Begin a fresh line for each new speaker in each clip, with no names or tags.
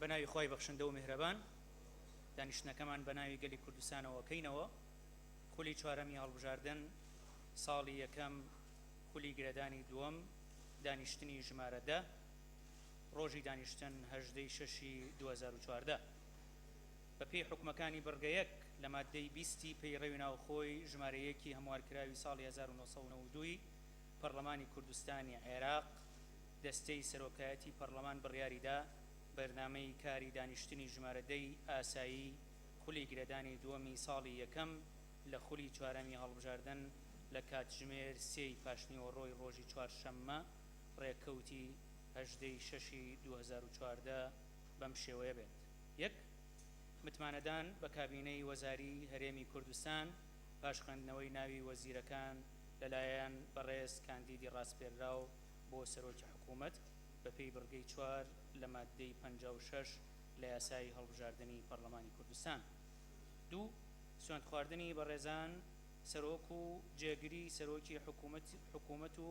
بە ناوی خی بەخشندە و میهرەبان دانیشتنەکەمان بە ناوی گەلی کوردستانەوەکەینەوە خولی چوارەمی هەڵبژاردن ساڵی یەکەم خولی گرێدانی دووەم دانیشتنی ژمارەدە ڕۆژی دانیشتن هەژدە ی شەش ی دوو هەزار و چواردە. بە پێی حوکمەکانی بڕگە یەک لە ماددەی بیست ی پەیڕەوی ناوخۆی ژمارە یەک ی هەموارکراوی ساڵی هەزار و نۆ سەد و نەوەد و دوو ی پەڕڵەمانی کوردستانی عێراق، دەستەی سەرۆکایەتی پەڕڵەمان بڕیاری دا بەرنامەی کاری دانیشتنی ژمارە دە ی ئاسایی خولی گرێدانی دووەمی ساڵی یەکەم لە خولی چوارەمی هەڵبژاردن لە کاتژمێر سێ ی پاشنیوەڕۆی ڕۆژی چوارشەممە ڕێککەوتی هەژدە ی شەش ی دوو هەزار و چواردە بەم شێوەیە بێت، یەک. متمانەدان بە کابینەی وەزاری هەرێمی کوردستان پاش خوێندنەوەی ناوی وەزیرەکان لەلایەن بەڕێز کاندیدی ڕاسپێردراو بۆ سەرۆکی حکوومەت بەپێی بڕگەی چوار لە ماددەی پەنجا و شەش لە یاسای هەڵبژاردنی پەڕڵەمانی کوردستان دوو. سوێندخواردنی بەڕێزان سەرۆک و جێگری سەرۆکی حکوومەت و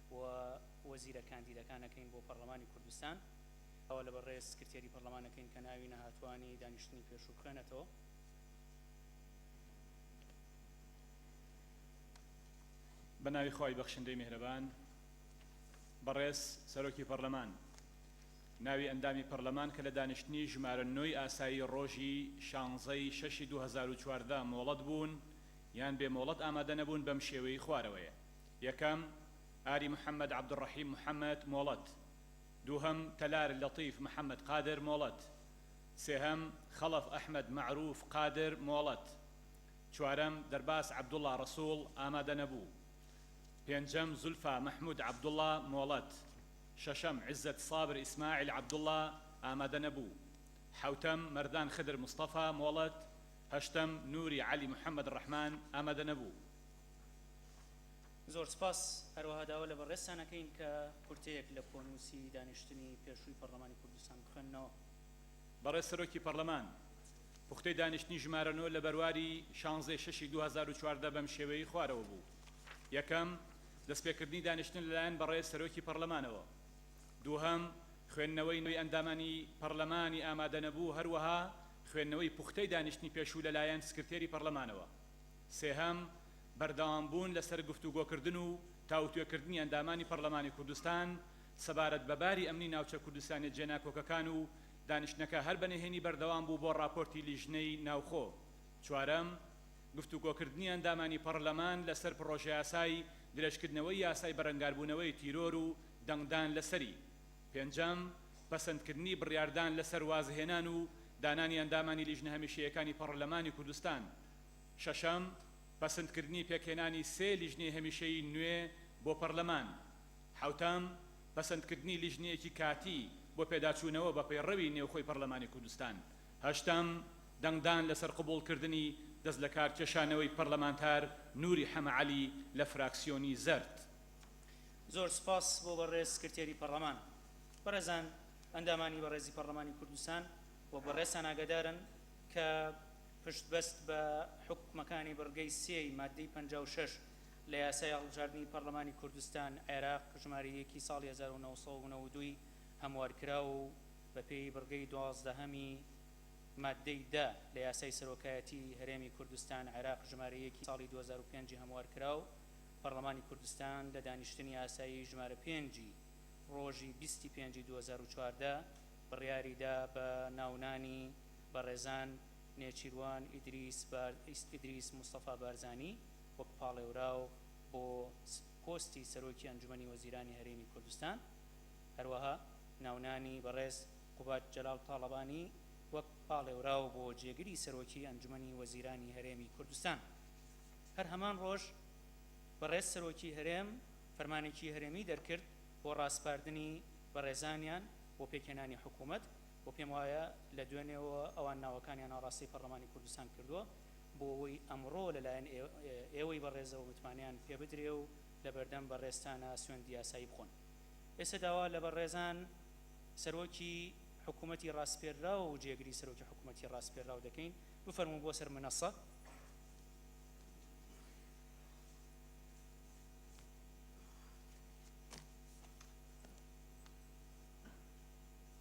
و وەزیرە کاندیدەکانەکەین بۆ پەڕلەمانی کوردستان ئەوە لە بەڕێز سکرتێری پەڕلەمانەکەین کە ناوی نەهاتوانی دانیشتنی پێشوو بخوێنێتەوە. بە ناوی خوای بەخشندەی میهرەبان. بەڕێز سەرۆکی پەڕلەمان ناوی ئەندامی پەڕلەمان کە لە دانیشتنی ژمارە نۆی ئاسایی ڕۆژی شانزەی شەشی دوو هەزار و چواردە مۆڵەت بوون یان بێ مۆڵەت ئامادە نەبوون بەم شێوەی خوارەوەیە. یەکەم، ئاری محەمەد عەبدولڕەحیم محەمەد، مۆڵەت. دووهەم، تەلار لەتیف محەمەد قادر، مۆڵەت. سێهەم، خەڵەف ئەحمەد مەعروف قادر، مۆڵەت. چوارەم، دەرباس عەبدوڵا ڕەسوڵ، ئامادەنەبوو. پێنجەم، زولفا مەحمود عەبدوڵا، مۆڵەت. شەشەم، عزەت سابر ئیسماعیل عەبدوڵا، ئامادەنەبوو. حەوتەم، مەردان خدر مستەفا، مۆڵەت. هەشتەم، نوری عەلی محەمەد ڕەحمان، ئامادەنەبوو. زۆر سپاس، هەروەها داوا لە بەڕێزتان ئەکەین کە کورتەیەک لە کۆنووسی دانیشتنی پێشووی پەڕلەمانی کوردستان بخوێننەوە. بەڕێز سەرۆکی پەڕلەمان، پوختەی دانیشتنی ژمارە نۆ لە بەرواری شانزدە ی شەشی دوو هەزار و چواردە بەم شێوەیەی خوارەوە بوو، یەکەم، دەستپێکردنی دانیشتن لەلایەن بەڕێز سەرۆکی پەڕلەمانەوە. دووهەم، خوێندنەوەی نوێی ئەندامانی پەڕلەمانی ئامادەنەبوو، هەروەها خوێندنەوەی پوختەی دانیشتنی پێشوو لەلایەن سکرتێری پەڕلەمانەوە. سێهەم، بەردەوامبوون لەسەر گفتوگۆکردن و تاوتوێکردنی ئەندامانی پەڕلەمانی کوردستان سەبارەت بە باری ئەمنی ناوچە کوردستانیە جێناکۆکەکان و دانیشتنەکە هەر بە نهێنی بەردەوام بوو بۆ ڕاپۆرتی لیژنەی ناوخۆ. چوارەم، گفتوگۆکردنی ئەندامانی پەڕلەمان لەسەر پڕۆژەیاسای درێژکردنەوەی یاسای بەرەنگاربوونەوەی تیرۆر و دەنگدان لەسەری. پێنجەم، پەسەندکردنی بڕیاردان لەسەر وازهێنان و دانانی ئەندامانی لیژنە هەمیشەیەکانی پەڕلەمانی کوردستان شەشەم، پەسندکردنی پێکهێنانی سێ لیژنەی هەمیشەیی نوێ بۆ پەرلەمان. حەوتەم، پەسەندکردنی لیژنەیەکی کاتی بۆ پێداچوونەوە بە پەیڕەوی نێوخۆی پەرلەمانی کوردستان. هەشتەم، دەنگدان لەسەر قبوڵکردنی دەستلەکارکێشانەوەی پەرلەمانتار نوری حەمە عەلی لە فراکسیۆنی زەرد. زۆر سوپاس بۆ بەڕێز سکرتێری پەڕلەمان. بەڕێزان ئەندامانی بەڕێزی پەڕلەمانی کوردستان و بەڕێزتان ئاگادارن کە پشتبەست بە حوکمەکانی بڕگەی سێ ی ماددەی پەنجا و شەش لە یاسای هەڵبژاردنی پەڕلەمانی کوردستان، عێراق، ژمارە یەک ی ساڵی هەزار و نۆ سەد و نەوەد و دوو ی هەموارکراو و بەپێی بڕگەی دوازدەهەم ی ماددەی دە لە یاسای سەرۆکایەتی هەرێمی کوردستان، عێراق، ژمارە یەک ی ساڵی دوو هەزار و پێنج ی هەموارکراو، پەڕلەمانی کوردستان لە دانیشتنی ئاسایی ژمارە پێنج ی ڕۆژی بیست ی پێنج ی دوو هەزار و چواردە بڕیاریدا بە ناونانی. بەڕێزان نێچیروان ئیدریس بار ئیدریس مستەفا بارزانی وەک پاڵێوراو بۆ پۆستی سەرۆکی ئەنجومەنی وەزیرانی هەرێمی کوردستان هەروەها ناونانی بەڕێز قوباد جەلال تاڵەبانی وەک پاڵێوراو بۆ جێگری سەرۆکی ئەنجومەنی وەزیرانی هەرێمی کوردستان هەر هەمان ڕۆژ بەڕێز سەرۆکی هەرێم فەرمانێکی هەرێمی دەرکرد بۆ ڕاسپاردنی بەڕێزانیان بۆ پێکهێنانی حکوومەت وە پێم وایە لە دوێنێوە ئەوان ناوەکانیان ئاڕاستەی پەڕلەمانی کوردستان کردووە بۆ ئەوەی ئەمڕۆ لە لایەن ئێوەی بەڕێزەوە متمانەیان پێ بدرێ و لە بەردەم بەڕێزتانا سوێندی یاسایی بخۆن ئێستا داوا لە بەڕێزان سەرۆکی حکوومەتی ڕاسپێردراو و جێگری سەرۆکی حکوومەتی ڕاسپێردراو دەکەین بفەرموون بۆ سەر منەسە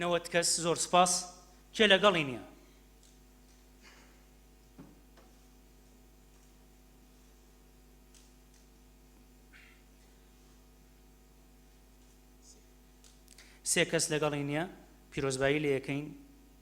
نەوەت کەس زۆر سپاس کێ لەگەڵی نییە سێ کەس لەگەڵی نییە پیرۆزبایی لە یەکەین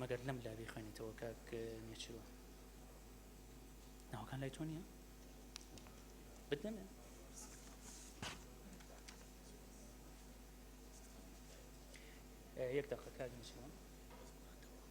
مەگەر لەم لا بیخوێنیتەوە کاک نێچرۆ ناوەکان لای تۆ نییە بدەمێ یەک دەقە کاک نێچرۆ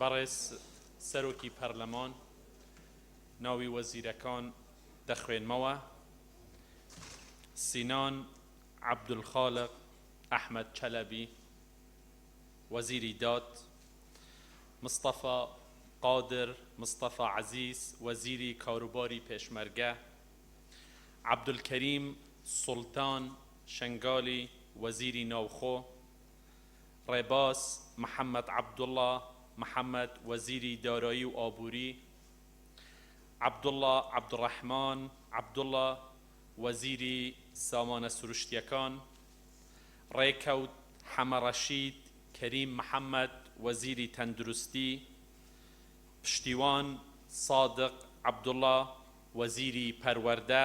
بەڕێز سەرۆکی پەرلەمان ناوی وەزیرەکان دەخوێنمەوە، سینان عەبدولخالق ئەحمەد چەلەبی، وەزیری داد، مستەفا قادر مستەفا عەزیز، وەزیری کاروباری پێشمەرگە، عەبدولکەریم سوڵتان شنگالی، وەزیری ناوخۆ، ڕێباز محەمەد عەبدوڵا محەمەد، وەزیری دارایی و ئابووری، عەبدوڵا عەبدوڕەحمان عەبدوڵا، وەزیری سامانە سروشتییەکان، ڕێکەوت حەمە ڕەشید، کەریم محەمەد، وەزیری تەندروستی، پشتیوان سادق عەبدوڵا، وەزیری پەروەردە،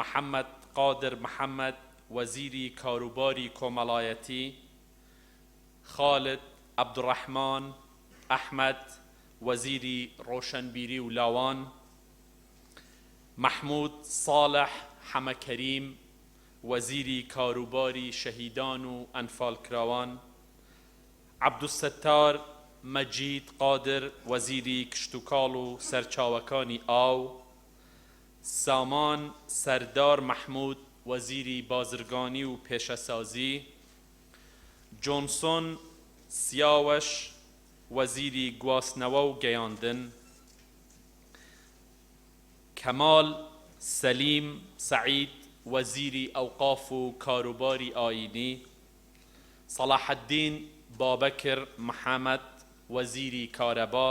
محەمەد قادر محەمەد، وەزیری کاروباری کۆمەڵایەتی، خالد عەبدوڕەحمان ئەحمەد، وەزیری ڕۆشەنبیری و لاوان، مەحمود ساڵح حەمەکەریم، وەزیری کاروباری شەهیدان و ئەنفالکراوان، عەبدولستار مەجید قادر، وەزیری کشتوکاڵ و سەرچاوەکانی ئاو، سامان سەردار مەحمود وەزیری بازرگانی و پێشەسازی، جۆنسۆن سیاوەش وەزیری گواستنەوە و گەیاندن، کەمال سەلیم سەعید وەزیری ئەوقاف و کاروباری ئایینی، سەڵاحەدین بابەکر محەمەد وەزیری کارەبا،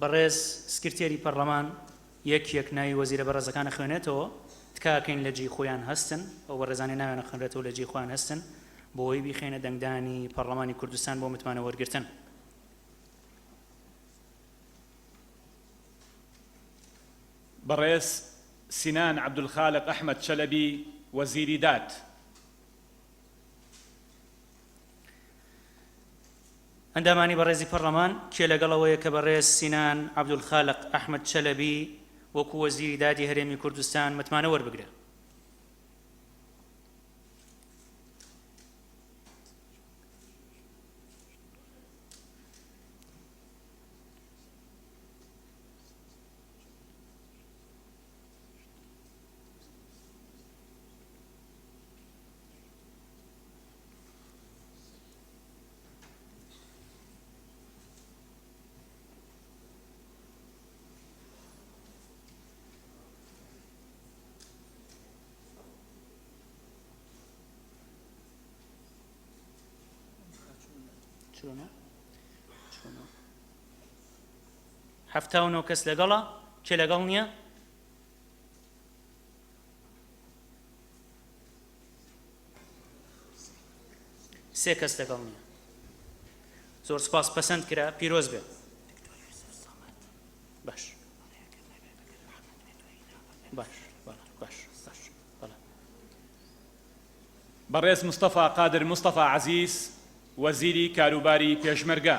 بەڕێز سکرتێری پەڕلەمان یەک یەک ناوی وەزیرە بەڕێزەکان ئەخوێنێتەوە تکاکەین لە جێی خۆیان هەستن ئەو بەڕێزانەی ناویان ئەخوێنرێتەوە لە جێی خۆیان هەستن بۆی بیخەینە دەنگدانی پەڕلەمانی کوردستان بۆ متمانە وەرگرتن. بەڕێز سینان عەبدولخالق ئەحمەد چەلەبی وەزیری داد. ئەندامانی بەڕێزی پەڕڵەمان کێ لەگەڵ ئەوەیە کە بەڕێز سینان عەبدولخالق ئەحمەد چەلەبی وەکوو وەزیری دادی هەرێمی کوردستان متمانە وەربگرێ؟ هەفتاونۆ کەس لەگەڵە کێ لەگەڵ نییە سێ کەس لەگەڵ نییە زۆر سپاس پەسەند کرا پیرۆز بێ باش باش باش باش بەڕێز مستەفا قادر مستەفا عزیز وەزیری کاروباری پێشمەرگە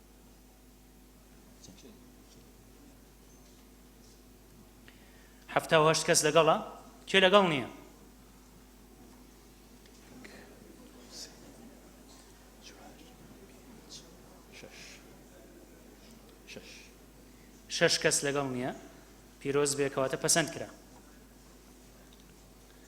حەفتا و هەشت کەس لەگەڵە کێ لەگەڵ نییە شش کەس لەگەڵ نییە پیرۆز بێکەواتە پەسەند کرا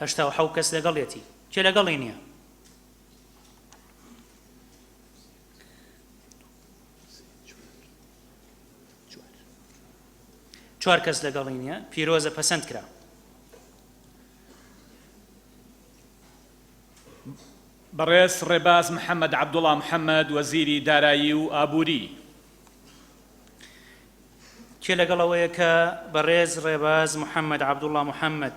هەشتا و حەو کەس لەگەڵێتی کێ لەگەڵی نییە چوار کەس لەگەڵی نییە پیرۆزە پەسەند کرا بەڕێز ڕێباز محەممەد عبدوڵام محەممەد وەزیری دارایی و ئابووری کێ لەگەڵەوەیە کە بەڕێز ڕێباز محەممەد عبدوڵام محەممەد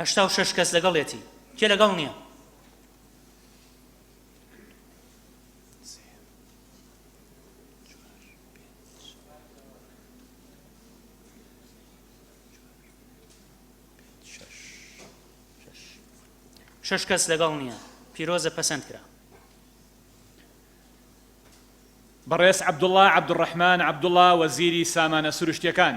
هەشتا و شش کەس لەگەڵێتی کێ لەگەڵ نییە شش کەس لەگەڵ نییە پیرۆزە پەسەند کرا بەڕێز عبدوڵا عبدڕحمان عبدوڵا وەزیری سامانە سروشتیەکان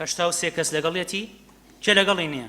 هەشتا و سێ کەس لەگەڵیەتی کێ لەگەڵی نییە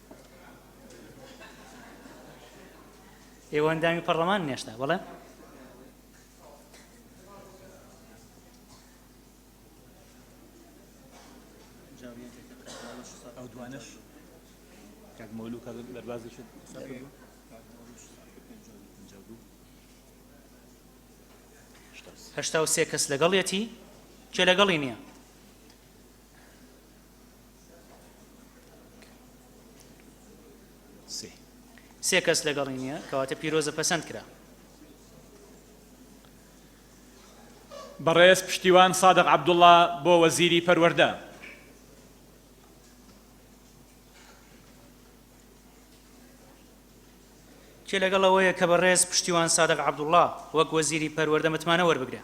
ئێوە ئەندامی پەرلەمان نێشتا بەڵێ ئەو دوانش کاک مۆلو کە دەربازی شت هەشتا و سێ کەس لەگەڵیەتی کێ لەگەڵی نییە سێ کەس لەگەڵی نییە کەواتە پیرۆزە پەسەند کرا بەڕێز پشتیوان سادق عبدوڵا بۆ وەزیری پەروەەردە کێ لەگەڵ ئەوەیە کە بەڕێز پشتیوان سادق عبدوڵا وەک وەزیری پەروەەردە متمانە وەربگرێ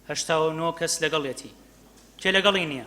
هەشتا و نۆ کەس لەگەڵێتی کێ لەگەڵی نییە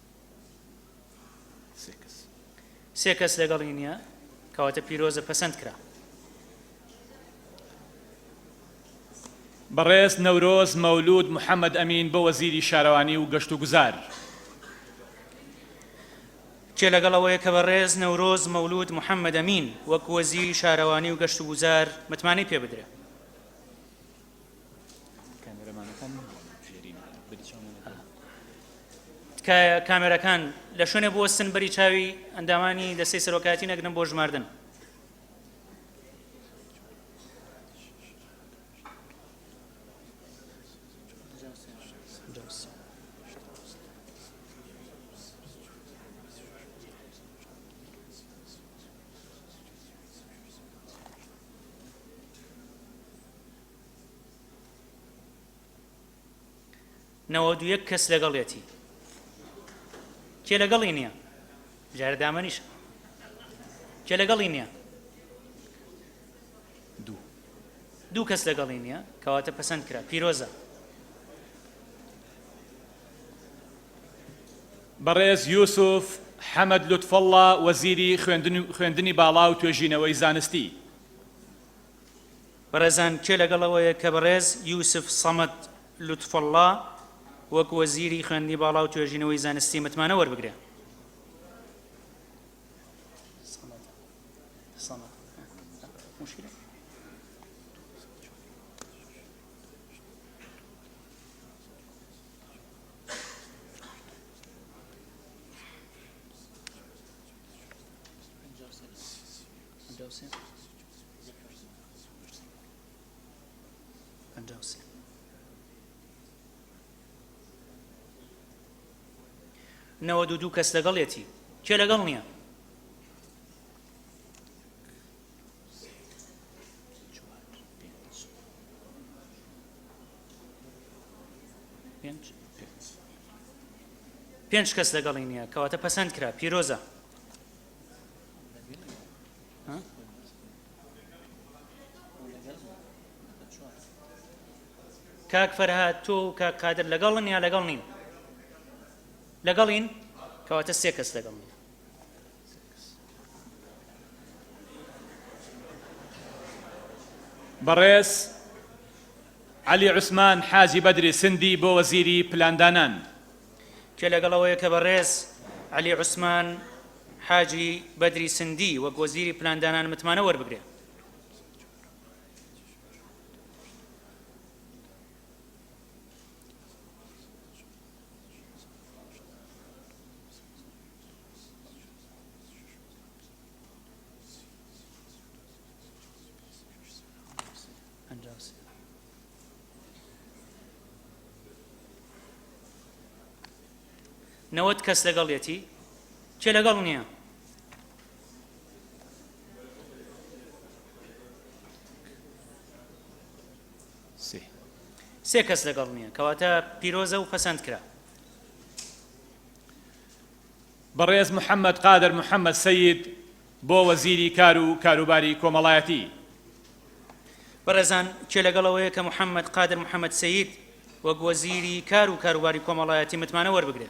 سێ کەس لەگەڵی نییە، کەواتە پیرۆزە پەسەند کرا. بەڕێز نەورۆز مەولوود محەمەد ئەمین بۆ وەزیری شارەوانی و گەشتوگوزار. کێ لەگەڵ ئەوەیە کە بەڕێز نەورۆز مەولوود محەمەد ئەمین وەک وەزیری شارەوانی و گەشتوگوزار متمانەی پێ بدرێ؟ تکایە کامێرەکان لە شوێنێ بوەستن بەری چاوی ئەندامانی دەستەی سەرۆکایەتی نەگرن بۆ ژماردن نەوەد و یەک کەس لەگەڵیەتی کێ لەگەڵی نییە جارە دامەنیش کێ لەگەڵی نییە دوو دوو کەس لەگەڵی نییە کەواتە پەسەند کرا پیرۆزە بەڕێز یوسف حەمەد لوتفەڵڵا وەزیری خوێندنی باڵا و توێژینەوەی زانستی بەڕێزان کێ لەگەڵ ئەوەیە کە بەڕێز یوسف سەمەد لوتفوڵڵا وەک وەزیری خوێندنی باڵا و توێژینەوەی زانستی متمانە وەربگرێ؟ نەوەد و دوو کەس لەگەڵێتی کێ لەگەڵ نییە پێنج کەس لەگەڵی نییە کەواتە پەسەند کرا پیرۆزە کاک فەرهاد تۆ و کاک قادر لەگەڵن یا لەگەڵ نین لەگەڵین کەواتە سێ کەس لەگەڵ نین بەڕێز علی عوسمان حاجی بەدری سندی بۆ وەزیری پلاندانان کە لەگەڵ ئەوەیە کە بەڕێز عەلی عوسمان حاجی بەدری سندی وەک وەزیری پلاندانان متمانە وەربگرێ. نەوەد کەس لەگەڵیەتی کێ لەگەڵ نییە سێ کەس لەگەڵ نییە کەواتە پیرۆزە و پەسەند کرا بەڕێز محەممەد قادر محەممەد سید بۆ وەزیری کار و کاروباری کۆمەڵایەتی. بەڕێزان کێ لەگەڵ ئەوەیە کە محەمەد قادر محەمەد سەید وەک وەزیری کار و کاروباری کۆمەڵایەتی متمانە وەربگرێ؟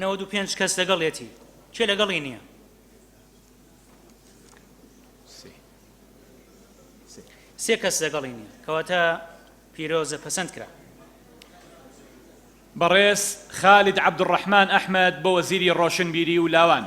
نەوەد و پێنج کەس لەگەڵێتی کێ لەگەڵی نییە سێ کەس لەگەڵی نییە کەواتە پیرۆزە پەسەند کرا بەڕێز خالد عبدڕحمان ئەحمد بۆ وەزیری ڕۆشنبیری و لاوان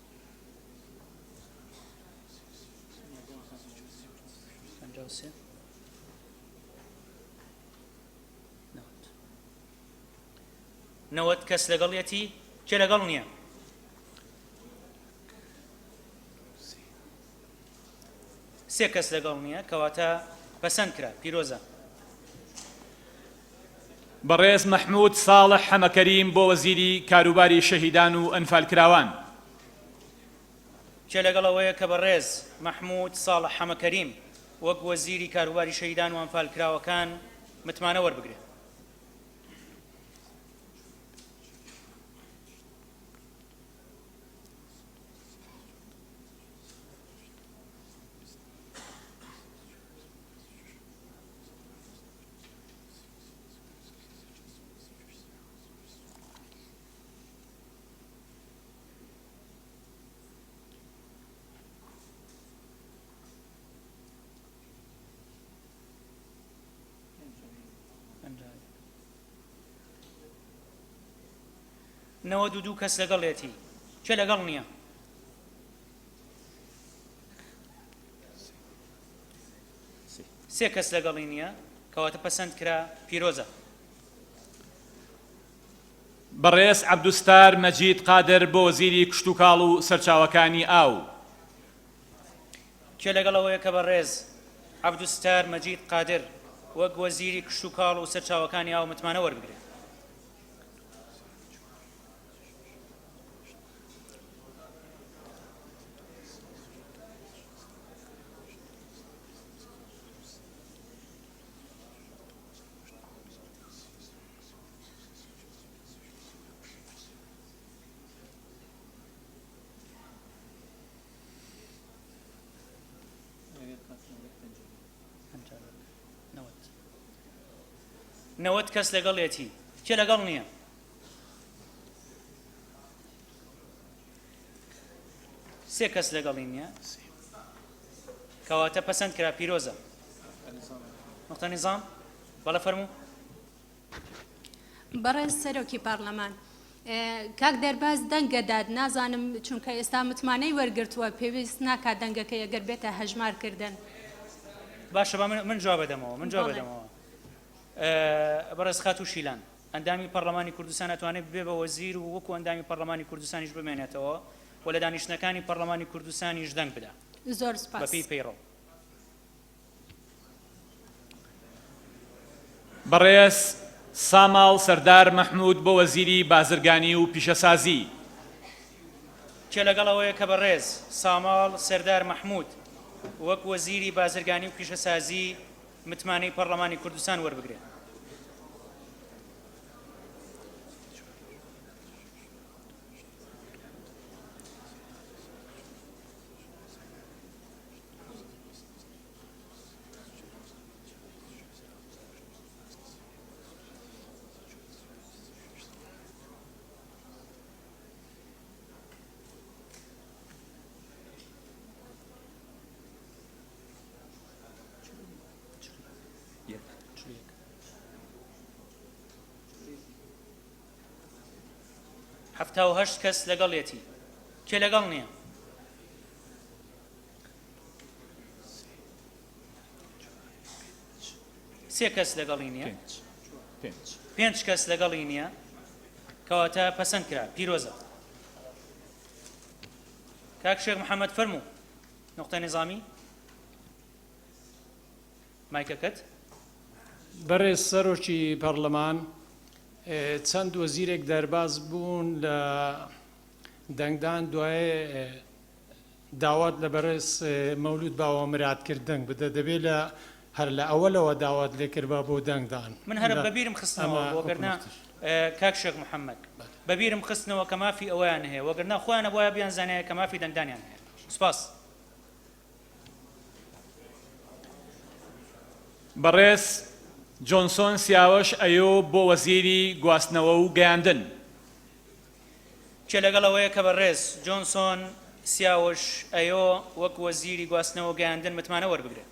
نەوەت کەس لەگەڵیەتی کێ لەگەڵ نییە سێ کەس لەگەڵ نییە کەواتە پەسەند کرا پیرۆزە بەڕێز مەحمود ساڵح حەمەکەریم بۆ وەزیری کاروباری شەهیدان و ئەنفالکراوان. کێ لەگەڵ ئەوەیە کە بەڕێز مەحمود ساڵح حەمەکەریم وەک وەزیری کاروباری شەهیدان و ئەنفالکراوەکان متمانە وەربگرێت؟ نەوە دوو دوو کەس لەگەڵێتی چێ لەگەڵ نییە سێ کەس لەگەڵی نیە کەواتە پەسەند کرا پیرۆزە. بەڕێز عەبدوستار مەجید قادر بۆ وەزیری کشتوکاڵ و سەرچاوەکانی ئاو. کێ لەگەڵ ئەوەیە کە بەڕێز عەبدوستار مەجید قادر وەک وەزیری کشتوکاڵ و سەرچاوەکانی ئاو متمانە وەربگرێت؟ نەوەت کەس لەگەڵێتی کێ لەگەڵ نییە سێ کەس لەگەڵی نییە کەواتە پەسەند کرا پیرۆزە نقطە نظام بەڵە فەرموو بەڕێز سەرۆکی پارلەمان کاک دەرباز دەنگەدات نازانم چونکە ئێستا متمانەی وەرگتووە پێویست ناکا دەنگەکە ئەگەر بێتە هەژمارکردن باشە من جواب بدەمەوە من جواب بدەمەوە بەڕێز خات و شیلان ئەندامی پەڕلەمانی کوردستان ئەتوانێت ببێت بە وەزیر و وەکو ئەندامی پەڕلەمانی کوردستانیش بمێنێتەوە و لە دانیشتنەکانی پەڕلەمانی کوردستانیش دەنگ بدا زۆر سپاس. بەپێی پەیڕەو. بەڕێز ساماڵ سەردار مەحمود بۆ وەزیری بازرگانی و پیشەسازی. کێ لەگەڵ ئەوەیە کە بەڕێز ساماڵ سەردار مەحمود وەک وەزیری بازرگانی و پیشەسازی متمانەی پەڕلەمانی کوردستان وەربگرێت. حەفتا و هەشت کەس لەگەڵێتی کێ لەگەڵ نییە سێ کەس لەگەڵی نییە پێنج کەس لەگەڵی نییە کەواتە پەسەند کرا پیرۆزە کاک شێخ محەممەد فەرموو نوقتەی نیزامی مایکەکەت. بەڕێز سەرۆکی پەڕلەمان، چەند وەزیرێک دەرباز بوون لە دەنگدان، دوای داوات لە بەڕێز مەولود باوەمراد کرد دەنگ بدە، دەبێ لە هەر لە ئەوەلەوە داوات لێ کربا بۆ دەنگدان. من هەر بە بیرم خستنەوە وەگەرنا کاک شێخ محەمەد بە بیرم خستنەوە کە مافی ئەوەیان هەیە وەگەرنا خۆیان ئەبوایە بیانزانیایە کە مافی دەنگدانیان هەیە. سپاس بەڕێز جۆنسۆن سیاوەش ئەیۆ بۆ وەزیری گواستنەوە و گەیاندن. جێ لەگەڵ ئەوەیە کە بەڕێز جۆنسۆن سیاوەش ئەیۆ وەک وەزیری گواستنەوە و گەیاندن متمانە وەربگرێت.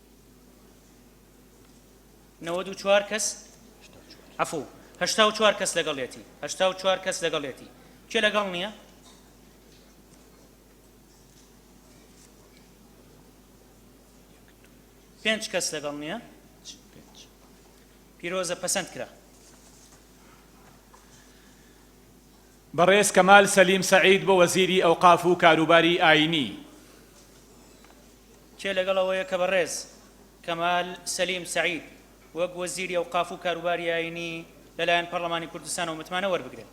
نەوەد و چوار کەس عفو هەشتا و چوار کەس لەگەڵێتی هەشتا و چوار کەس لەگەڵێتی کێ لەگەڵ نییە پێنج کەس لەگەڵ نییە پیرۆزە پەسەند کرا بەڕێز کەمال سەلیم سەعید بۆ وەزیری ئەوقاف و کاروباری ئاینی کێ لەگەڵ ئەوەیە کە بەڕێز کەمال سەلیم سەعید وەک وەزیری ئەوقاف و کاروباری ئایینی لەلایەن پەڕڵەمانی کوردستانەوە متمانە وەربگرێت؟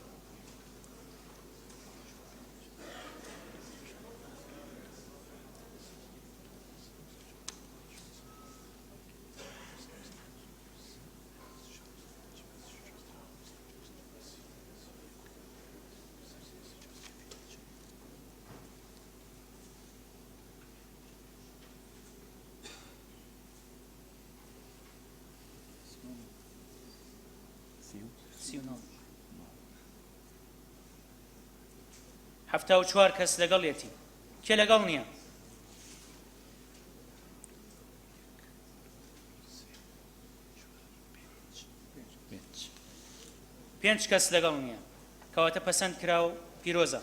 حەفتا و چوار کەس لەگەڵ یەتی کێ لەگەڵ نییە پێنج کەس لەگەڵ نییە کەواتە پەسەند کرا و پیرۆزە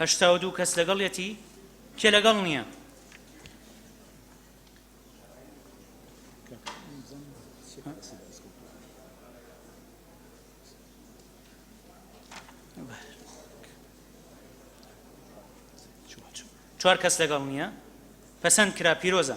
هەشتا و دوو کەس لەگەڵیەتی کێ لەگەڵ نییە چوار کەس لەگەڵ نییە پەسەند کرا پیرۆزە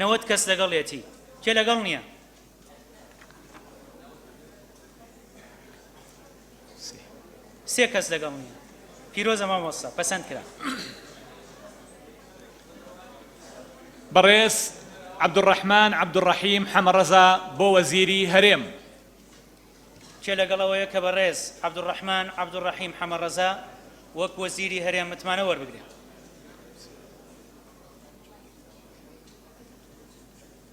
نەوەت کەس لەگەڵیەتی کێ لەگەڵ نییە سێ کەس لەگەڵ نیە پیرۆزە مامۆستا پەسەند کرا بەڕێز عبدڕحمان عبدڕحیم حەمەڕەزا بۆ وەزیری هەرێم کێ لەگەڵەوەیە کە بەڕێز عبدڕحمان عبدڕحیم حەمەڕەزا وەک وەزیری هەرێم متمانە وەربگرێت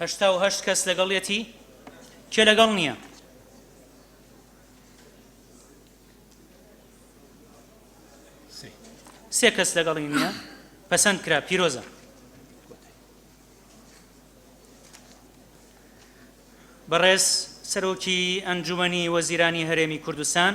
هەشتا و هەشت کەس لەگەڵیەتی کێ لەگەڵ نییە سێ کەس لەگەڵی نییە پەسەند کرا پیرۆزە بەڕێز سەرۆکی ئەنجومنی وەزیرانی هەرێمی کوردستان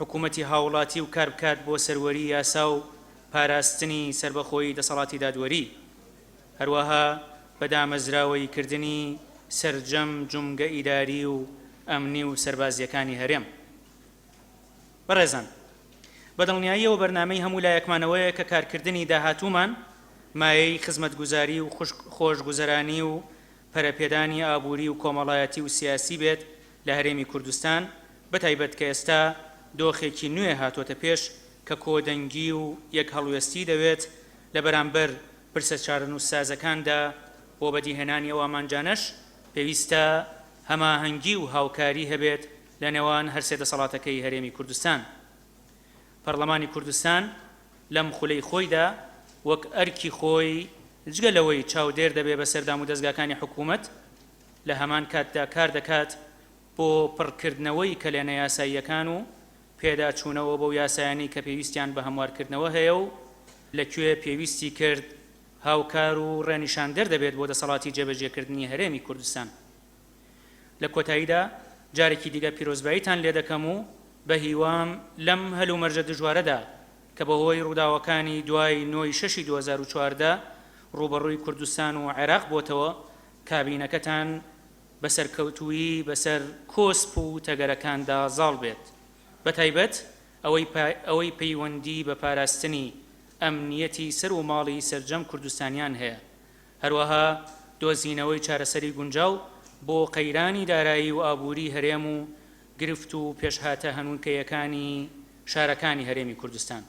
حکوومەتی هاوڵاتی و کاربکات بۆ سەروەری یاسا و پاراستنی سەربەخۆیی دەسەڵاتی دادوەری، هەروەها بە دامەزراوەیی کردنی سەرجەم جومگە ئیداری و ئەمنی و سەربازییەکانی هەرێم. بەڕێزان، بە دڵنیاییەوە بەرنامەی هەموو لایەکمان ئەوەیە کە کارکردنی داهاتوومان مایەی خزمەتگوزاری و خۆشگوزەرانی و پەرەپێدانی ئابووری و کۆمەڵایەتی و سیاسی بێت لە هەرێمی کوردستان، بەتایبەت کە ئێستا دۆخێکی نوێ هاتووەتە پێش کە کۆدەنگی و یەکهەڵوێستی دەوێت لە بەرامبەر پرسە چارەنووسسازەکاندا بۆ بەدیهێنانی ئەو ئامانجانەش پێویستە هەماهەنگی و هاوکاری هەبێت لە نێوان هەرسێ دەسەڵاتەکەی هەرێمی کوردستان، پەرلەمانی کوردستان، لەم خولەی خۆیدا وەک ئەرکی خۆی جگە لەوەی چاودێر دەبێ بەسەر دامودەزگاکانی حکوومەت، لە هەمان کاتدا کار دەکات بۆ پڕکردنەوەی کەلێنە یاساییەکان و پێداچوونەوە بەو یاسایانەی کە پێویستیان بە هەموارکردنەوە هەیە و لە کوێ پێویستی کرد هاوکار و ڕێنیشاندەر دەبێت بۆ دەسەڵاتی جێبەجێکردنی هەرێمی کوردستان. لە کۆتاییدا جارێکی دیکە پیرۆزباییتان لێ دەکەم و بە هیوام لەم هەلومەرجە دژوارەدا کە بە هۆی ڕووداوەکانی دوای نۆ ی شەشی دوو هەزار و چواردە ڕووبەڕووی کوردستان و عێراق بۆتەوە کابینەکەتان بە سەرکەوتوویی بەسەر کۆسپ و تەگەرەکاندا زاڵ بێت بە تایبەت ئەوەی ئەوەی پەیوەندی بە پاراستنی ئەمنیەتی سەر و ماڵی سەرجەم کوردستانیان هەیە هەروەها دۆزینەوەی چارەسەری گونجاو بۆ قەیرانی دارایی و ئابووری هەرێم و گرفت و پێشهاتە هەنووکەیەکانی شارەکانی هەرێمی کوردستان.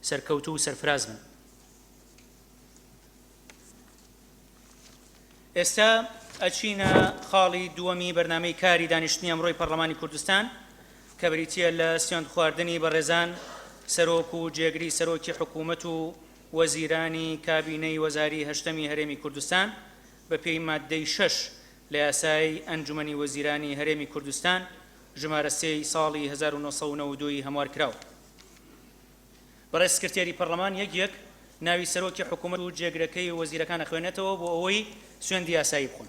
سەرکەوتوو و سەرفراز بن. ئێستا ئەچینە خاڵی دووەمی بەرنامەی کاری دانیشتنی ئەمڕۆی پەڕڵەمانی کوردستان کە بریتییە لە سوێندخواردنی بەڕێزان سەرۆک و جێگری سەرۆکی حکوومەت و وەزیرانی کابینەی وەزاری هەشتەمی هەرێمی کوردستان بە پێی ماددەی شەش لە یاسای ئەنجومەنی وەزیرانی هەرێمی کوردستان ژمارە سێ ی ساڵی هەزار و نۆ سەد و نەوەد و دوو ی هەموار کراوە بەڕێز سکرتێری پەڕلەمان یەک یەک ناوی سەرۆکی حکوومەت و جێگرەکەی وەزیرەکان ئەخوێنێتەوە بۆ ئەوەی سوێندی یاسایی بخۆن.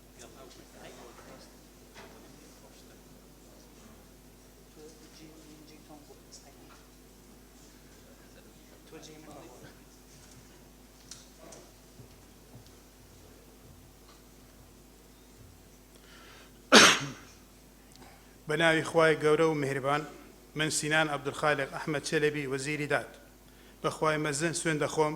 بە ناوی خوای گەورە و مهربان من سینان عبدالخالق ئەحمد چەلەبی وەزیری داد بەخوای مەزن سوێن دەخۆم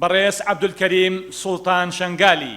بەڕێز عەبدولکەریم سوڵتان شەنگالی،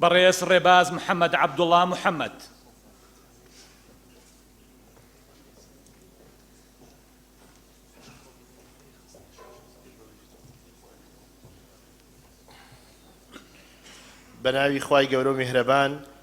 بەڕێز ڕێباز محەمەد عەبدوڵا محەمەد. بەناوی خوای گەورەو میهرەبان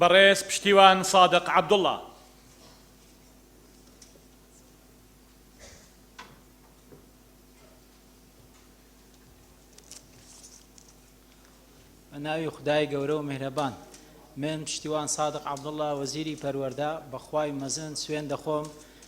بەڕێز پشتیوان سادق عبدالله ناوی خدای گەورە و میهرەبان من پشتیوان سادق عبدالله وەزیری پەروەەردە بەخوای مەزن سوێن دەخۆم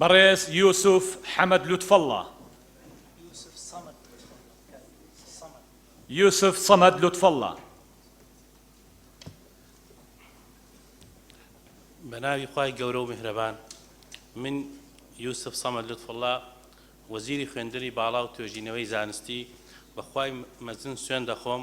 بەڕێز یوسف حەمەد لوتفەڵڵا یوسف صەمەد لوتفەڵڵا بە ناوی خوای گەورە و میهرەبان من یوسف صەمەد لوتفەڵڵا وەزیری خوێندنی باڵا و توێژینەوەی زانستی بەخوای مەزن سوێن دەخۆم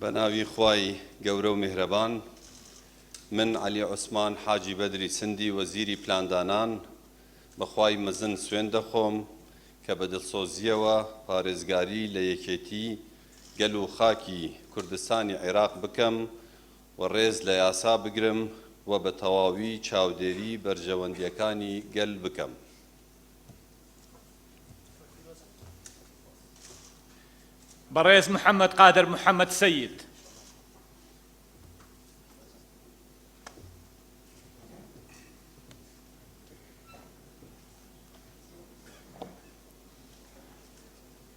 بە ناوی خوای گەورە و میهرەبان من عەلی عوسمان حاجی بەدری سندی وەزیری پلاندانان بەخوای مەزن سوێن دەخۆم کە بە دڵسۆزیەوە پارێزگاری لە یەکێتی گەل و خاکی کوردستانی عێراق بکەم و ڕێز لە یاسا بگرم و بە تەواوی چاودێری بەرژەوەندییەکانی گەل بکەم. بەڕێز محەمەد قادر محەمەد سەید.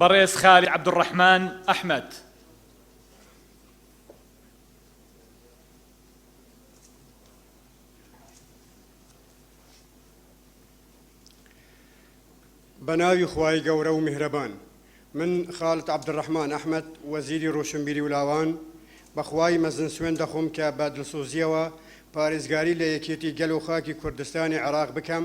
بەڕێز خالید عەبدولڕەحمان ئەحمەد. بەناوی خوای گەورە و میهرەبان. من خالد عەبدولڕەحمان ئەحمەد وەزیری ڕۆشنبیری و لاوان بە خوای مەزن سوێند دەخۆم کە بە دڵسۆزییەوە پارێزگاری لە یەکێتی گەل و خاکی کوردستانی عێراق بکەم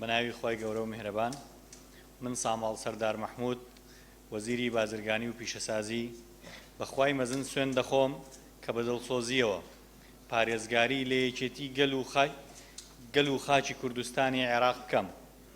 بەناوی خی گەورە و میهرەبان من ساماڵ سەردار مححمود وەزیری بازرگانی و پیشەسازی بەخوای مەزن سوێن دەخۆم کە بە دڵسۆزیەوە پارێزگاری لە یەکێتی گەل و خای گەل و خاچی کوردستانی عێراق بکەم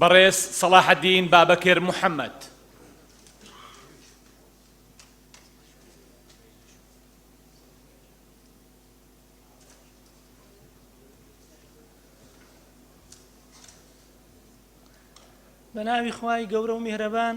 بەڕێز سەڵاحەدین بابەکر محەممەد بە ناوی خوای گەورە و میهرەبان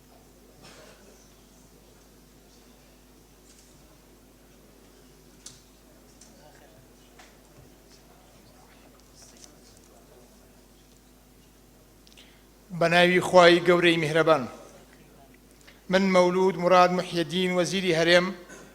بە ناوی خوای گەورەی میهرەبان من مەولود مراد محیدین وەزیری هەرێم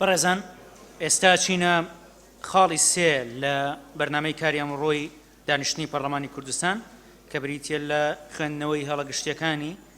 بەڕێزان ئێستا چینە خاڵی سێ لە بەرنمەی کاری ئەمڕۆی دانیشتنی پەرلەمانی کوردستان کە بریتە لە خوێندنەوەی هەڵە گشتیەکانی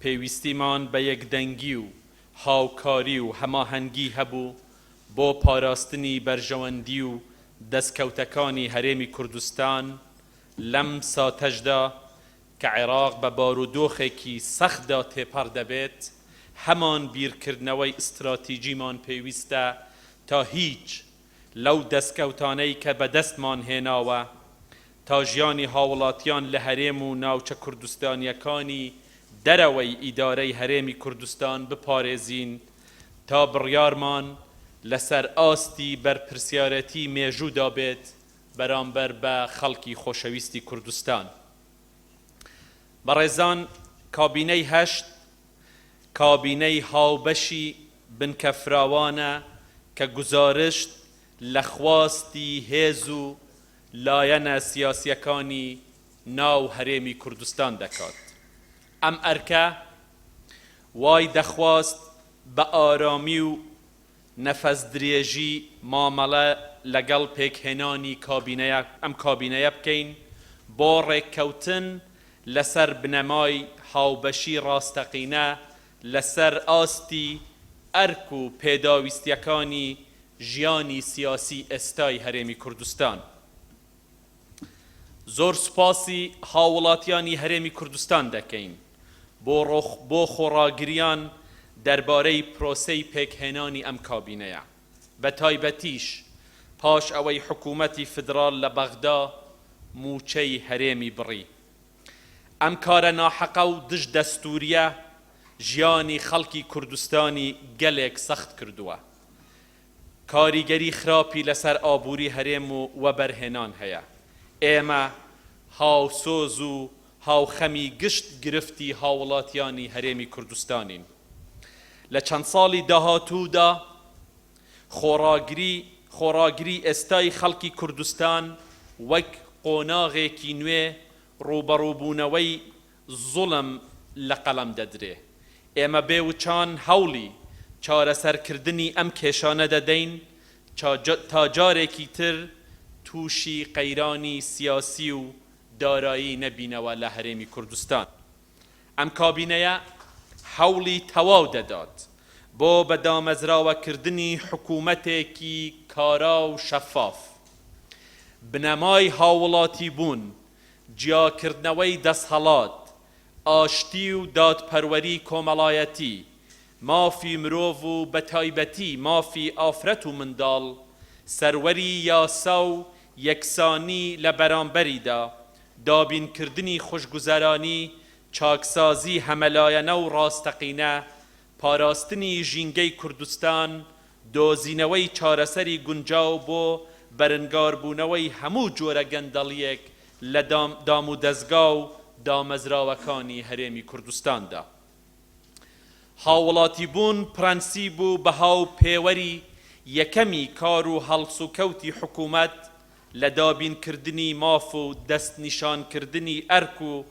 پێویستیمان بە یەکدەنگی و هاوکاری و هەماهەنگی هەبوو بۆ پاراستنی بەرژەوەندی و دەستکەوتەکانی هەرێمی کوردستان لەم ساتەشدا کە عێراق بە بارودۆخێکی سەختدا تێپەڕ دەبێت، هەمان بیرکردنەوەی ئیستراتیجیمان پێویستە تا هیچ لەو دەستکەوتانەی کە بەدەستمان هێناوە تا ژیانی هاوڵاتیان لە هەرێم و ناوچە کوردستانییەکانی دەرەوەی ئیدارەی هەرێمی کوردستان بپارێزین تا بڕیارمان لەسەر ئاستی بەرپرسیارێتی مێژوودا بێت بەرامبەر بە خەڵکی خۆشەویستی کوردستان. بەڕێزان کابینەی هەشت کابینەی هاوبەشی بنکە فراوانە کە گوزارشت لە خواستی هێز و لایەنە سیاسییەکانی ناو هەرێمی کوردستان دەکات. ئەم ئەرکە وای دەخواست بە ئارامی و نەفەسدرێژی مامەڵە لەگەڵ پێکهێنانی کابینەیە ئەم کابینەیە بکەین بۆ ڕێککەوتن لەسەر بنەمای هاوبەشی ڕاستەقینە لەسەر ئاستی ئەرک و پێداویستیەکانی ژیانی سیاسی ئێستای هەرێمی کوردستان. زۆر سوپاسی هاووڵاتیانی هەرێمی کوردستان دەکەین بۆ خۆڕاگرییان دەربارەی پرۆسەی پێکهێنانی ئەم کابینەیە، بەتایبەتیش پاش ئەوەی حکوومەتی فیدراڵ لە بەغدا مووچەی هەرێمی بڕی. ئەم کارە ناحەقە و دژ دەستوورییە ژیانی خەڵکی کوردستانی گەلێک سەخت کردووە. کاریگەری خراپی لەسەر ئابوری هەرێم و وەبەرهێنان هەیە، ئێمە هاوسۆز و هاوخەمی گشت گرفتی هاوڵاتیانی هەرێمی کوردستانین، لە چەند ساڵی داهاتوودا خۆڕاگری خۆڕاگری ئێستای خەڵکی کوردستان وەک قۆناغێکی نوێ ڕووبەڕووبوونەوەی زوڵم لە قەڵەم دەدرێ. ئێمە بێ وچان هەوڵی چارەسەر کردنی ئەم کێشانە دەدەین تا جارێکی تر تووشی قەیرانی سیاسی و دارایی نەبینەوە لە هەرێمی کوردستان. ئەم کابینەیە هەوڵی تەواو دەدات بۆ بە دامەزراوە کردنی حکوومەتێکی کارا و شەفاف. بنەمای هاووڵاتی بوون جیاکردنەوەی دەسهەڵات، ئاشتی و دادپەروەری کۆمەڵایەتی، مافی مرۆڤ و بە تایبەتی مافی ئافرەت و منداڵ، سەروەری یاسا و یەکسانی لە بەرامبەریدا، دابینکردنی خوشگوزەرانی، چاکسازی هەمەلایەنە و ڕاستەقینە، پاراستنی ژینگەی کوردستان، دۆزینەوەی چارەسەری گونجاو بۆ بەرنگاربوونەوەی هەموو جۆرە گەندەڵییەک لە دامودەزگا و دامەزراوەکانی هەرێمی کوردستاندا. هاووڵاتیبوون پرەنسیب و بەها و پێوەری یەکەمی کار و هەڵسوکەوتی حکوومەت لە دابینکردنی ماف و دەستنیشانکردنی ئەرک و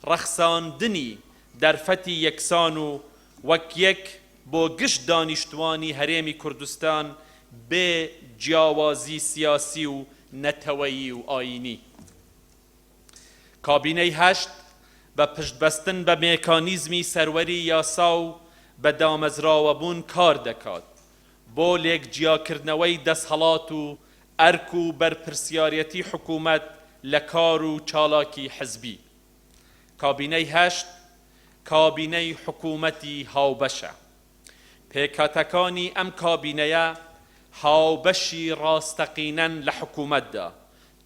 ڕەخساندنی دەرفەتی یەکسان و وەک یەک بۆ گشت دانیشتوانی هەرێمی کوردستان بێ جیاوازی سیاسی و نەتەوەیی و ئایینی. کابینەی هەشت بە پشتبەستن بە مێکانیزمی سەروەری یاسا و بە دامەزراوەبوون کار دەکات بۆ لێکجیاکردنەوەی دەسهەڵات و ئەرک و بەرپرسیارەتی حکوومەت لە کار و چالاکی حزبی. کابینەی هەشت کابینەی حکوومەتی هاوبەشە. پێکهاتەکانی ئەم کابینەیە هاوبەشی ڕاستەقینەن لە حکوومەتدا،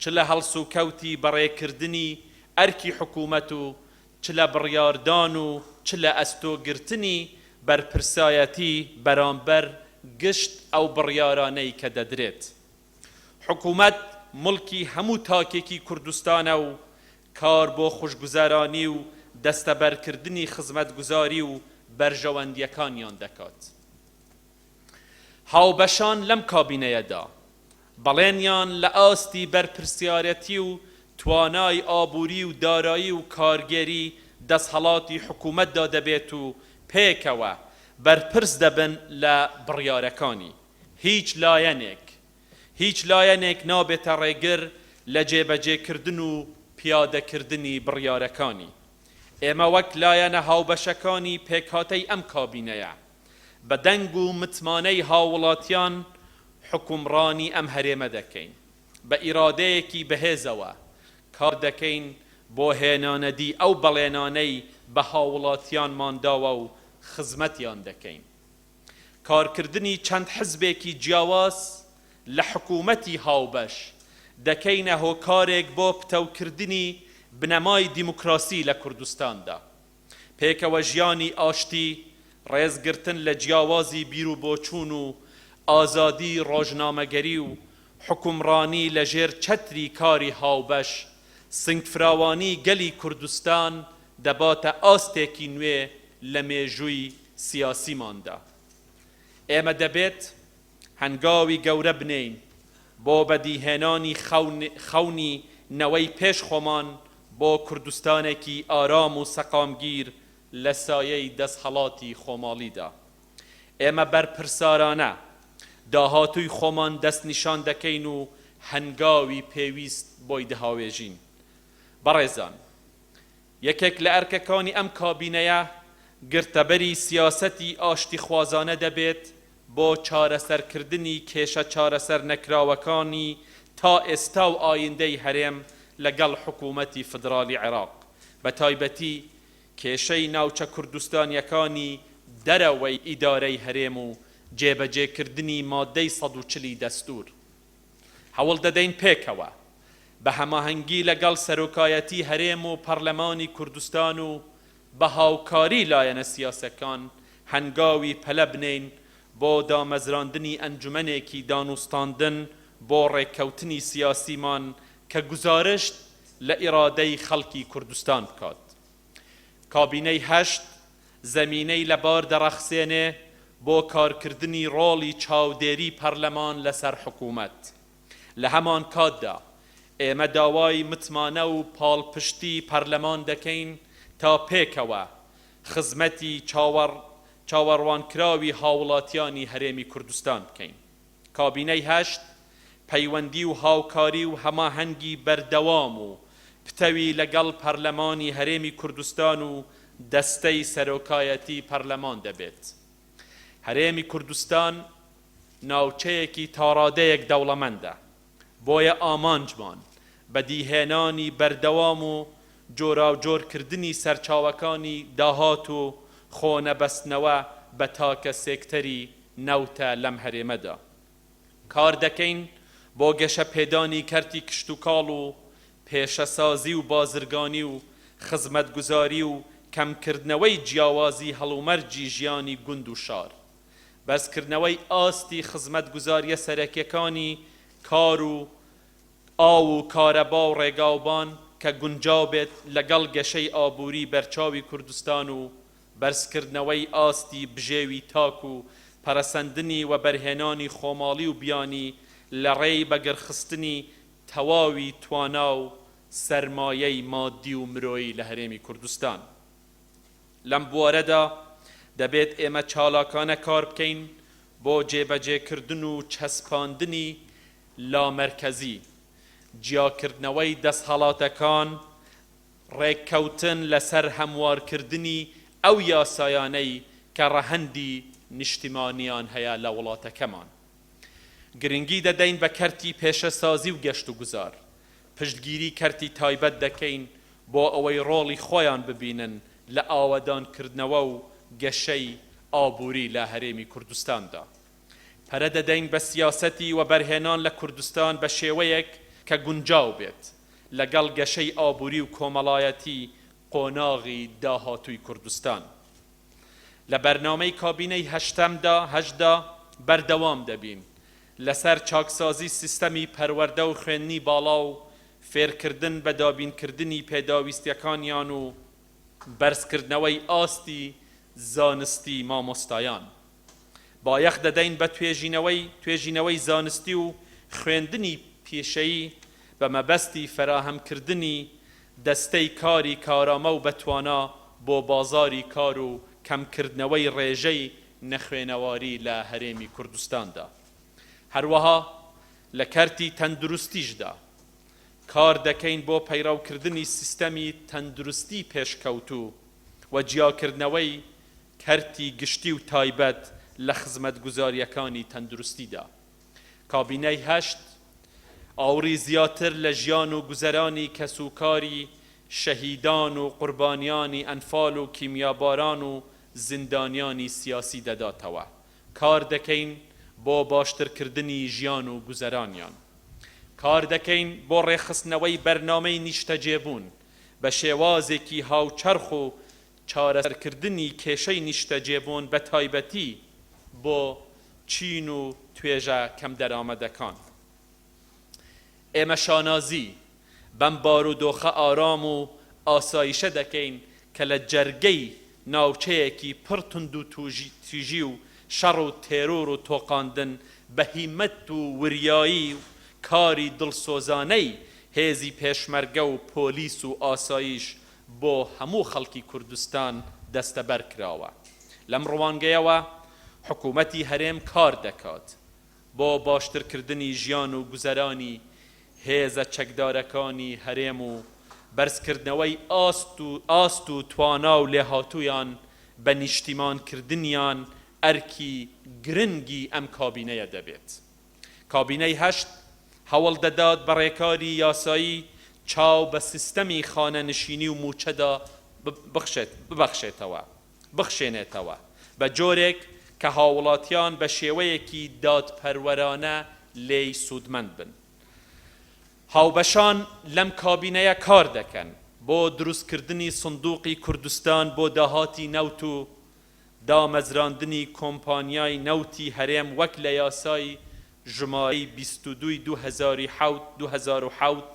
چ لە هەڵسوکەوتی بەڕێکردنی ئەرکی حکوومەت و چ لە بڕیاردان و چ لە ئەستۆ گرتنی بەرپرسایەتی بەرامبەر گشت ئەو بڕیارانەی کە دەدرێت. حکومەت موڵکی هەموو تاکێکی کوردستانە و کار بۆ خوشگوزەرانی و دەستەبەرکردنی خزمەتگوزاری و بەرژەوەندییەکانیان دەکات. هاوبەشان لەم کابینەیەدا بەڵێنیان لە ئاستی بەرپرسیارەتی و توانای ئابووری و دارایی و کارگێری دەستهەڵاتی حکومەتدا دەبێت و پێکەوە بەرپرس دەبن لە بڕیارەکانی. هیچ لایەنێک هیچ لایەنێک نابێتە ڕێگر لە جێبەجێکردن و پیادەکردنی بڕیارەکانی. ئێمە وەک لایەنە هاوبەشەکانی پێکهاتەی ئەم کابینەیە، بە دەنگ و متمانەی هاووڵاتیان حوکمڕانی ئەم هەرێمە دەکەین. بە ئیرادەیەکی بەهێزەوە کار دەکەین بۆ هێنانەدی ئەو بەڵێنانەی بە هاووڵاتیانمان داوە و خزمەتیان دەکەین. کارکردنی چەند حزبێکی جیاواز لە حکوومەتی هاوبەش، دەکەینە هۆکارێک بۆ پتەوکردنی بنەمای دیموکراسی لە کوردستاندا. پێکەوەژیانی ئاشتی، ڕێزگرتن لە جیاوازی بیروبۆچوون و ئازادی ڕۆژنامەگەری و حوکمڕانی لەژێر چەتری کاری هاوبەش، سنگفراوانی گەلی کوردستان دەباتە ئاستێکی نوێ لە مێژووی سیاسیماندا، ئێمە دەبێت هەنگاوی گەورە بنێین بۆ بەدیهێنانی خەونی نەوەی پێش خۆمان بۆ کوردستانێکی ئارام و سەقامگیر لە سایەی دەستهەڵاتی خۆماڵیدا. ئێمە بەرپرسارانە داهاتووی خۆمان دەستنیشان دەکەین و هەنگاوی پێویست بۆی دهاوێژین. بەڕێزان یەکێک لە ئەرکەکانی ئەم کابینەیە گرتەبەری سیاسەتی ئاشتیخوازانە دەبێت بۆ چارەسەرکردنی کێشە چارەسەر نەکراوەکانی تا ئێستا و ئایندەی هەرێم لەگەڵ حکوومەتی فیدراڵی عێراق بە تایبەتی کێشەی ناوچە کوردستانییەکانی دەرەوەی ئیدارەی هەرێم و جێبەجێکردنی مادەی سەد و چل ی دەستوور. هەوڵدەدەین پێکەوە بە هەماهەنگی لەگەڵ سەرۆکایەتی هەرێم و پەڕلەمانی کوردستان و بە هاوکاری لایەنە سیاسەکان هەنگاوی پەلە بنێین بۆ دامەزراندنی ئەنجومەنێکی دانوستاندن بۆ ڕێککەوتنی سیاسیمان کە گوزارشت لە ئیرادەی خەڵکی کوردستان بکات. کابینەی هەشت زەمینەی لەبار دەڕەخسێنێ بۆ کارکردنی ڕۆڵی چاودێری پەرلەمان لەسەر حکوومەت. لە هەمانکاتدا ئێمە داوای متمانە و پاڵپشتی پەرلەمان دەکەین تا پێکەوە خزمەتی چاوەڕوانکراوی هاوڵاتیانی هەرێمی کوردستان بکەین. کابینەی هەشت پەیوەندی و هاوکاری و هەماهەنگی بەردەوام و پتەوی لەگەڵ پەرلەمانی هەرێمی کوردستان و دەستەی سەرۆکایەتی پەرلەمان دەبێت. هەرێمی کوردستان ناوچەیەکی تاڕادەیەک دەوڵەمەندە، بۆیە ئامانجمان بەدیهێنانی بەردەوام و جۆراوجۆرکردنی سەرچاوەکانی داهات و خۆنەبەستنەوە بە تاکە سێکتەری نەوتە لەم هەرێمەدا. کاردەکەین بۆ گەشەپێدانی کەرتی کشتوکاڵ و پێشەسازی و بازرگانی و خزمەتگوزاری و کەمکردنەوەی جیاوازی هەڵومەرجی ژیانی گوند و شار. بەرزکردنەوەی ئاستی خزمەتگوزارییە سەرەکیەکانی کار و ئاو و کارەبا و ڕێگاوبان کە گونجاو بێت لەگەڵ گەشەی ئابووری بەرچاوی کوردستان و بەرزکردنەوەی ئاستی بژێوی تاک و پەرەسەندنی وەبەرهێنانی خۆماڵی و بیانی لە ڕێی بەگڕخستنی تەواوی توانا و سەرمایەی مادی و مرۆیی لە هەرێمی کوردستان. لەم بوارەدا دەبێت ئێمە چالاکانە کار بکەین بۆ جێبەجێکردن و چەسپاندنی لامەرکەزی، جیاکردنەوەی دەستهەڵاتەکان، ڕێککەوتن لەسەر هەموارکردنی ئەو یاسایانەی کە ڕەهەندی نیشتیمانیان هەیە لە وڵاتەکەمان. گرنگی دەدەین بە کەرتی پێشەسازی و گەشتوگوزار، پشتگیری کەرتی تایبەت دەکەین بۆ ئەوەی ڕۆڵی خۆیان ببینن لە ئاوەدانکردنەوە و گەشەی ئابووری لە هەرێمی کوردستاندا. پەرە دەدەین بە سیاسەتی وەبەرهێنان لە کوردستان بە شێوەیەک کە گونجاو بێت لەگەڵ گەشەی ئابووری و کۆمەڵایەتی قۆناغی داهاتووی کوردستان. لە بەرنامەی کابینەی هەشتەمدا، هەشدا، بەردەوام دەبین لەسەر چاکسازی سیستەمی پەروەردە و خوێندنی باڵا و فێرکردن بە دابینکردنی پێداویستییەکانیان و بەرزکردنەوەی ئاستی زانستی مامۆستایان بایەخ دەدەین بە توێژینەوەی توێژینەوەی زانستی و خوێندنی پیشەیی بە مەبەستی فەراهەمکردنی دەستەی کاری کارامە و بەتوانا بۆ بازاری کار و کەمکردنەوەی ڕێژەی نەخوێنەواری لە هەرێمی کوردستاندا، هەروەها لە کەرتی تەندروستیشدا کار دەکەین بۆ پەیڕەوکردنی سیستەمی تەندروستی پێشکەوتوو و جیاکردنەوەی کەرتی گشتی و تایبەت لە خزمەتگوزارییەکانی تەندروستیدا. کابینەی هەشت ئاوڕی زیاتر لە ژیان و گوزەرانی کەسوکاری شەهیدان و قوربانیانی ئەنفال و کیمیاباران و زیندانیانی سیاسی دەداتەوە، کار دەکەین بۆ باشترکردنی ژیان و گوزەرانیان. کار دەکەین بۆ ڕێکخستنەوەی بەرنامەی نیشتەجێبوون بە شێوازێکی هاوچەرخ و چارەسەرکردنی کێشەی نیشتەجێبوون بە تایبەتی بۆ چین و توێژە کەمدەرامەتەکان. ئێمە شانازی بەم بارودۆخە ئارام و ئاسایشە دەکەین کە لە جەرگەی ناوچەیەکی پڕ توندوتیژی و شەڕ و تێرۆر و تۆقاندن بە هیمەت و وریایی و کاری دڵسۆزانەی هێزی پێشمەرگە و پۆلیس و ئاسایش بۆ هەموو خەڵکی کوردستان دەستەبەر کراوە. لەم ڕوانگەیەوە حکوومەتی هەرێم کار دەکات بۆ باشترکردنی ژیان و گوزەرانی هێزە چەکدارەکانی هەرێم و بەرزکردنەوەی ئاست و ئاست و توانا و لێهاتوویان بە نیشتیمانکردنیان ئەرکی گرنگی ئەم کابینەیە دەبێت. کابینەی هەشت هەوڵ دەدات بە ڕێکاری یاسایی چاو بە سیستەمی خانەنشینی و مووچەدا ببەخشێتەوە، بخشێنێتەوە بە جۆرێک کە هاووڵاتیان بە شێوەیەکی دادپەروەرانە لێی سوودمەند بن. هاوبەشان لەم کابینەیە کار دەکەن بۆ دروستکردنی سندووقی کوردستان بۆ داهاتی نەوت و دامەزراندنی کۆمپانیای نەوتی هەرێم وەک لە یاسای ژمارەی بیست و دوو ی دوو هەزار و حەوت دوو هەزار و حەوت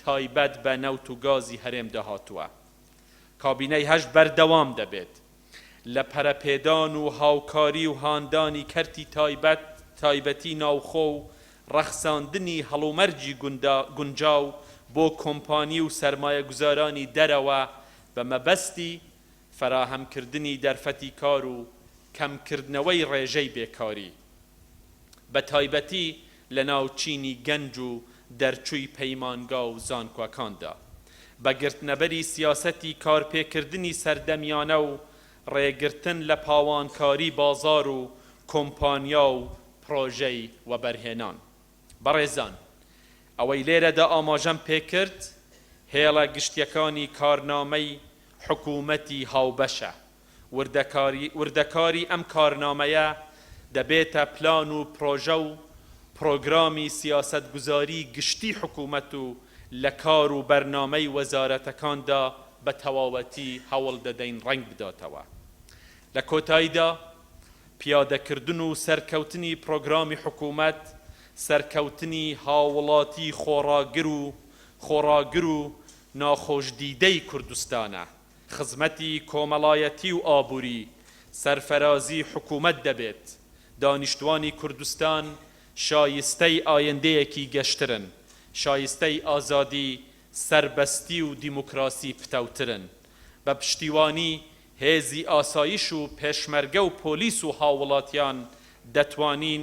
تایبەت بە نەوت و گازی هەرێمدا هاتووە. کابینەی هەشت بەردەوام دەبێت لە پەرەپێدان و هاوکاری و هاندانی کەرتی تایبەت تایبەتی ناوخۆ و ڕەخساندنی هەڵومەرجی گوندا گونجاو بۆ کۆمپانی و سەرمایەگوزارانی دەرەوە بە مەبەستی فەراهەمکردنی دەرفەتی کار و کەمکردنەوەی ڕێژەی بێکاری بە تایبەتی لەناو چینی گەنج و دەرچووی پەیمانگا و زانکۆەکاندا بە گرتنەبەری سیاسەتی کارپێکردنی سەردەمیانە و ڕێگرتن لە پاوانکاری بازار و کۆمپانیا و پڕۆژەی وەبەرهێنان بەڕێزان ئەوەی لێرەدا ئاماژەم پێکرد هێڵە گشتیەکانی کارنامەی حکوومەتی هاوبەشە وردەکاری وردەکاری ئەم کارنامەیە دەبێتە پلان و پڕۆژە و پڕۆگرامی سیاسەتگوزاری گشتی حکوومەت و لە کار و بەرنامەی وەزارەتەکاندا بە تەواوەتی هەوڵ دەدەین ڕەنگ بداتەوە لە کۆتایدا پیادەکردن و سەرکەوتنی پڕۆگرامی حکوومەت سەرکەوتنی هاوڵاتی خۆڕاگر و خۆڕاگر و ناخۆش دیدەی کوردستانە، خزمەتی کۆمەڵایەتی و ئابوری سەرفەرازی حکومەت دەبێت، دانیشتوانی کوردستان شایستەی ئایندەیەکی گەشترن، شایستەی ئازادی، سەربەستی و دیموکراسی پتەوترن، بە پشتیوانی هێزی ئاسایش و پێشمەرگە و پۆلیس و هاووڵاتیان دەتوانین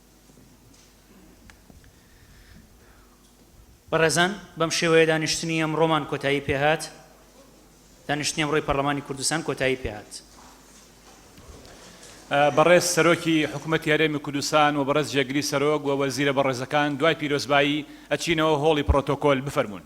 بەڕێزان بەم شێوەیە دانیشتنی ئەمڕۆمان کۆتایی پێهات دانیشتنی ئەمڕۆی پەرلەمانی کوردستان کۆتایی پێهات. بەڕێز سەرۆکی حکوومەت یارێمی کوردستان و بەڕێز جێگری سەرۆک و وەزیرە بەڕێزەکان دوای پیرۆزبایی ئەچینەوە هۆڵی پرۆتۆکۆل بفەرمونون.